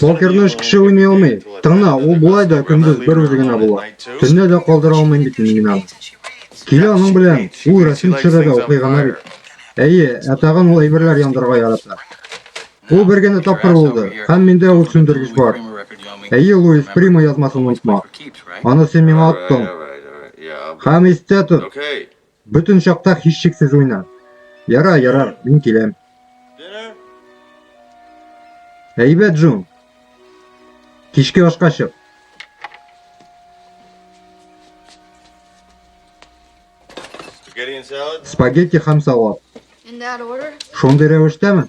Покерны өч кеше уйный алмый. Тыңна, ул болай да көндез бер үзе генә була. Төнлә дә калдыра алмыйм бит мин аны. Килә аның белән, ул рәсем төшерә дә укый гына бит. Әйе, ә тагын ул әйберләр яндырырга ярата. Ул бер генә тапкыр булды, һәм миндә ул сүндергеч бар. Әйе, Луис Прима язмасын онытма. Аны син миңа аттың. Һәм истә тот, Бөтен чакта һичшиксез уйна. Яра, ярар, мин киләм. Әйбәт, Джун. Кичке ашка чык. Спагетти һәм салат. Шундый рәвештәме?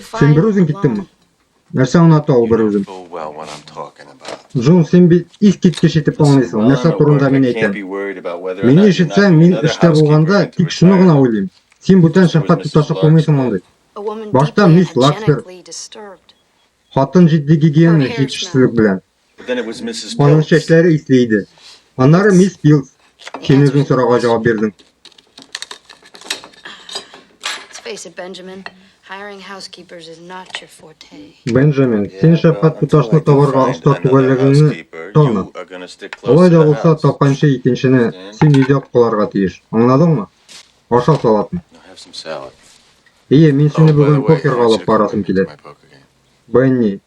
Син бер үзең киттеңме? Нәрсә аңлата ул бер үзен? Джон, син бит ис киткеч итеп аңлыйсың, нәрсә турында мин әйтәм. Мине ишетсәң, мин эштә булганда тик шуны гына уйлыйм. Син бүтән шәфкать туташы кылмыйсың мондый. Башта мисс Лаксберг хатын җитди гигиена җитешсезлек белән Аның чәчләре исле иде. Аннары мисс Пилс. Син үзең сорауга җавап бирдең. Бенджамин, син шәфкать туташны табарга оста түгәллегеңне таны. Алай да булса, тапканчы икенчене син өйдә кыларга тиеш. Аңладыңмы? Аша салатны. Ие, мин сине oh, бүген покерга алып барасым килә. Бенни,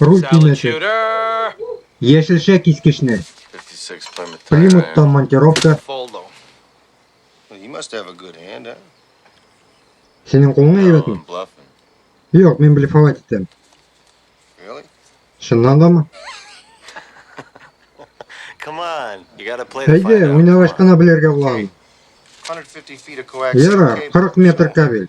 Руль төймәсе. Яшелчә кискечне. Примуттан монтировка. Синең кулың әйбәтме? Юк, мин блефовать итәм. Чыннан да мы? Әйдә, уйнагач кына белергә була. Яра, 40 метр кабель.